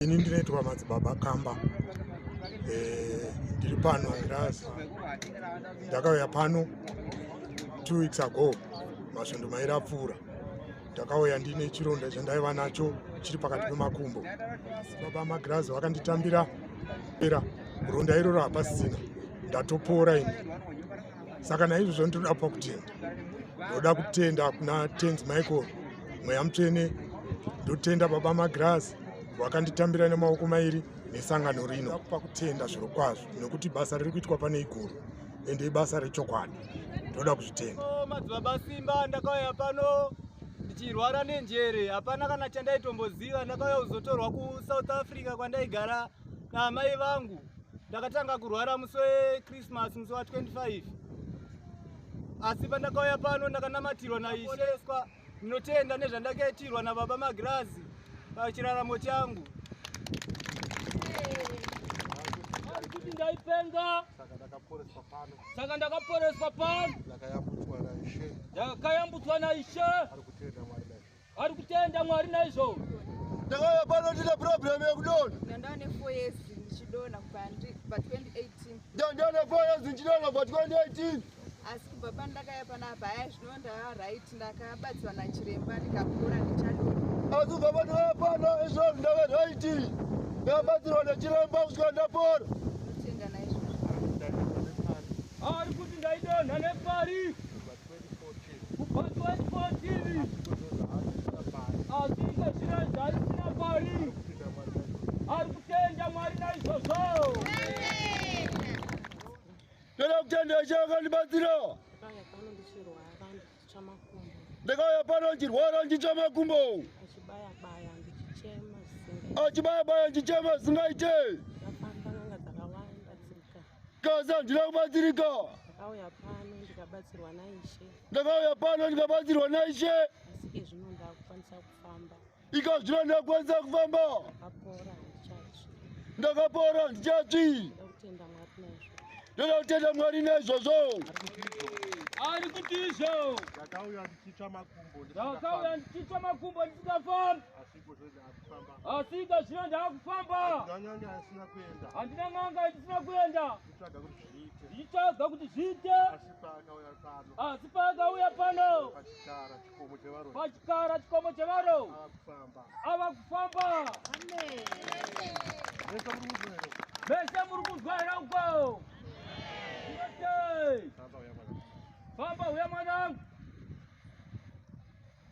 ini ndinoitwa madzibaba kamba eh, ndiri pano ndas ndakauya pano two weeks ago masvondo mairi apfuura ndakauya ndine chironda chandaiva nacho chiri pakati pemakumbo baba magirazi vakanditambira era ronda iroro hapasisina ndatopora ini saka naizvozvo ndinoda pa kutenda ndoda kutenda kuna tens michael mweya mutsvene ndotenda baba magirasi wakanditambira nemaoko mairi nesangano rino pa kutenda zviro kwazvo nekuti basa riri kuitwa pane iguru ende ibasa rechokwadi ndoda kuzvitenda oh, madzibaba simba ndakauya pano ndichirwara nenjere hapana kana chandaitomboziva ndakauya kuzotorwa kusouth africa kwandaigara naamai vangu Ndakatanga kurwara musi weChristmas musi wa 25 asi pandakauya pano ndakanamatirwa naiseswa. Ndinotenda nezvandakaitirwa nababa Magirazi pachiraramo changu. kuti ndaipenga saka ndakaporeswa pano ndakayambutswa naishe Ari kutenda Mwari naizvo. Ndakauya pano ndine problem yekudona. Ndandane 4 years ndichidona kubva pa 2018. Ndandane 4 years ndichidona kubva 2018. Asi kubva pandakaya panapa haya zvino ndava right ndakabatsirwa nachiremba ndikakura ndichadona. Asi kubva pandakaya pano izvo ndava right ndakabatsirwa nachiremba kusvika ndapora. Ndinotenda naizvo. Ari kuti ndaidonha nepari. kubva 2014 asinga zvira zvaisina pari ari kutenda mwari naizvozvo toda kutenda ishe akandibatsira ndakauya pano ndichirwara ndichitsva makumbo achibaya baya ndichema zingaite Gaza ndiri kubatsirika. Ndakauya pano ndikabatsirwa naIshe. Ndakauya pano ndikabatsirwa naIshe. Asi ke zvino ndakukwanisa kufamba. Ika zvino ndakukwanisa kufamba. Ndakapora ndichatsvi. Ndakapora ndichatsvi. Ndakutenda Mwari naizvo. Ndoda kutenda Mwari naizvozvo. Ari kuti izvo. Ndakauya ndichitsva makumbo. Ndakauya ndichitsva makumbo ndisingafambi. asika zvino ndaakufamba handina n'anga ndisina kuenda ndichitsvaga kuti zviite asi paakauya pano pachikara chikomo chevaro ava kufamba vese muri kunzwa here uko famba uya mwanangu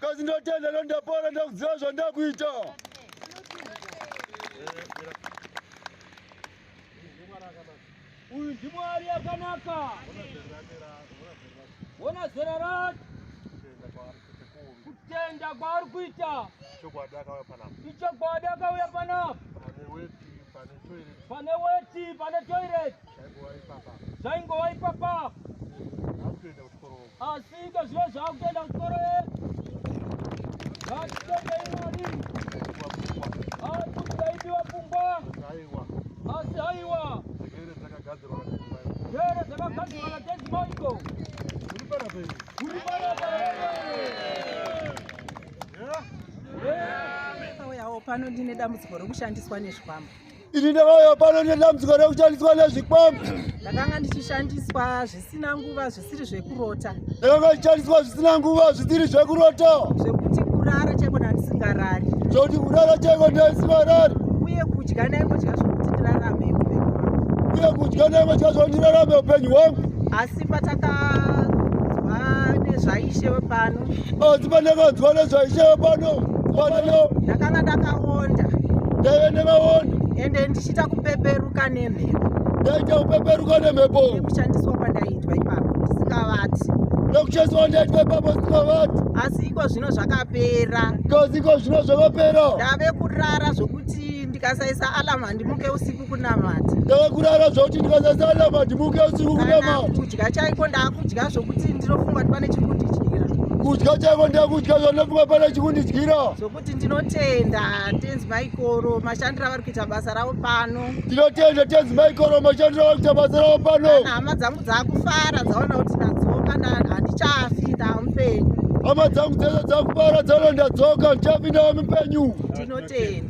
Kazi ndotenda leo ndapora ndakuziva zvandakuita. Uyu ndimwari yakanaka. Wona zera rati. Kutenda kwaari kuita. Ichokwadi akauya panapa. Ichokwadi akauya panapa. Pane weti, pane toilet. Pane weti, pane toilet. zvaingova ipapa asika zviya zvakutoenda kuchikoro vatitendeimari akuti taipiwa pfungwa asi haiwa here dzakagadzirwa natezimaiko pano ndine dambudziko rokushandiswa nezvikwambo Ini ndakauya pano nedambudziko rekushandiswa nezvikwambo. Ndakanga ndichishandiswa zvisina nguva zvisiri zvekurota. Ndakanga ndichishandiswa zvisina nguva zvisiri zvekurota. Zvekuti kurara chaiko ndandisingarari. Zvekuti kurara chaiko ndandisingarari. Uye kudya ndaingodya zvekuti ndirarame upenyu hwangu. Uye kudya ndaingodya zvekuti ndirarame upenyu hwangu. Asi pataka nezvaishe wepano. asi pandakanzwa nezvaishaya pano panano ndakanga ndakaonda ndaive ndakaonda ende ndichiita kupeperuka nemhepo ndaita kupeperuka nemhepo nekushandiswa kwandaitwa ipapo ndisingavati nokushandiswa kwandaitwa ipapo ndisingavati asi iko zvino zvakapera kozi iko zvino zvakapera ndave kurara zvokuti ndikasaisa alamu handimuke usiku kunamata ndava kurara zvakuti ndikasasana madimuke usiku kunamata kudya chaiko ndakudya zvokuti ndinofunga kuti pane chiri kundidyira kudya chaiko ndakudya zvandinofunga pane chiri kundidyira zvokuti ndinotenda tenzi maikoro mashandiro avari kuita basa ravo pano ndinotenda tenzi maikoro mashandiro avari kuita basa ravo pano hama dzangu dzakufara dzaona kuti ndadzoka handichafi ndamupenyu hama dzangu dzese dzakufara dzaona ndadzoka ndichafi ndawa mupenyu tinotenda